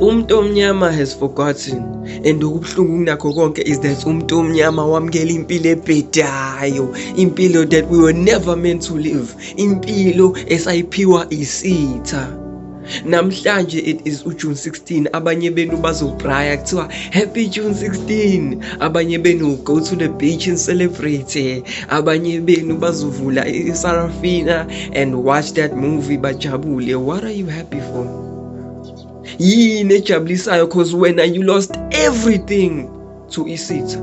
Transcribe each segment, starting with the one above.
Umuntu omnyama has forgotten and okubuhlungu kunakho konke is that umuntu omnyama wamukela impilo ebhedayo impilo that we were never meant to live impilo esayiphiwa isitha namhlanje it is ujune 16 abanye benu bazobraya kuthiwa happy june 16 abanye benu go to the beach and celebrate abanye benu bazovula isarafina and watch that movie bajabule what are you happy for yini ejabulisayo cause wena you lost everything to isitha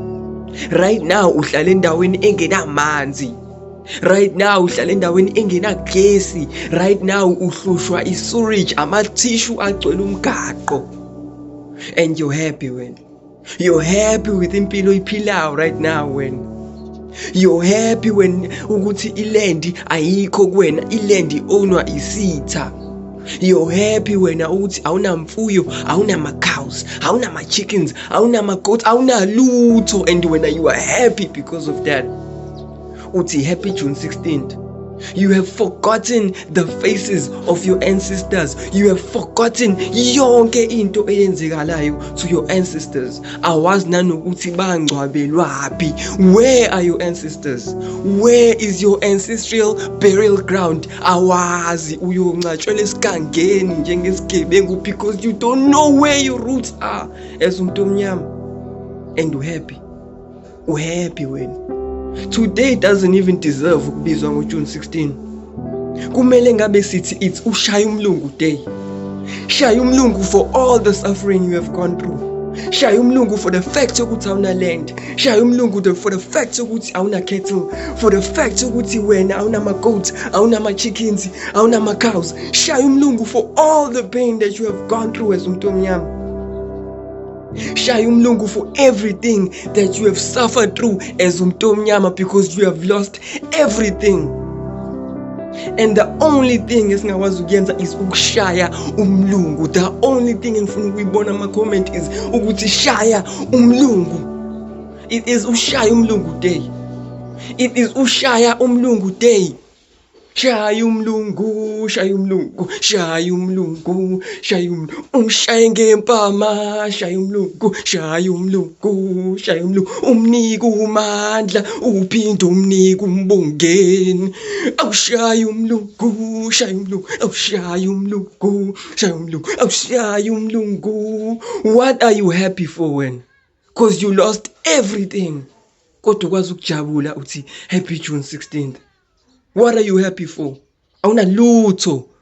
right now uhlala endaweni engenamanzi right now uhlala endaweni engenagesi right now uhlushwa isurage amathishu agcwele umgaqo and you're happy wena You're happy with impilo iphilayo right now wena. You're happy when ukuthi ilendi ayikho kuwena, ilendi ownwa isitha. You're happy wena ukuthi awunamfuyo, awunama-cows, awunama-chickens, awunama-goats, awunalutho and wena you are happy because of that. uthi happy june 16th You have forgotten the faces of your ancestors. You have forgotten yonke into eyenzekalayo to your ancestors. Awazi nanokuthi bangcwabelwaphi. Where are your ancestors? Where is your ancestral burial ground? Awazi uyoncatshwela esigangeni njengesigebengu because you don't know where your roots are as umuntu omnyama and you happy uhappy wena today doesn't even deserve ukubizwa ngojune 16 kumele ngabe sithi it's ushaya umlungu day shaya umlungu for all the suffering you have gone through shaya umlungu for the fact yokuthi awuna land shaya umlungu the, for the fact yokuthi awuna cattle for the fact yokuthi wena awuna ma goats awuna ma chickens awuna ma cows shaya umlungu for all the pain that you have gone through as umuntu omnyama shaya umlungu for everything that you have suffered through as umuntu omnyama because you have lost everything and the only thing esingakwazi ukuyenza is ukushaya umlungu the only thing engifuna ukuyibona ama-comment is ukuthi shaya umlungu it is ushaya umlungu day it is ushaya umlungu day Shaya umlungu, shaya umlungu, shaya umlungu, shaya umlungu, umshaye ngempama, shaya umlungu, shaya umlungu, shaya umlungu, umnika umandla, uphinde umnika umbongeni. Awushaya umlungu, shaya umlungu, awushaya umlungu, shaya umlungu, awushaya umlungu. What are you happy for wena? cause you lost everything kodwa ukwazi ukujabula uthi happy June 16th what are you happy for awunalutho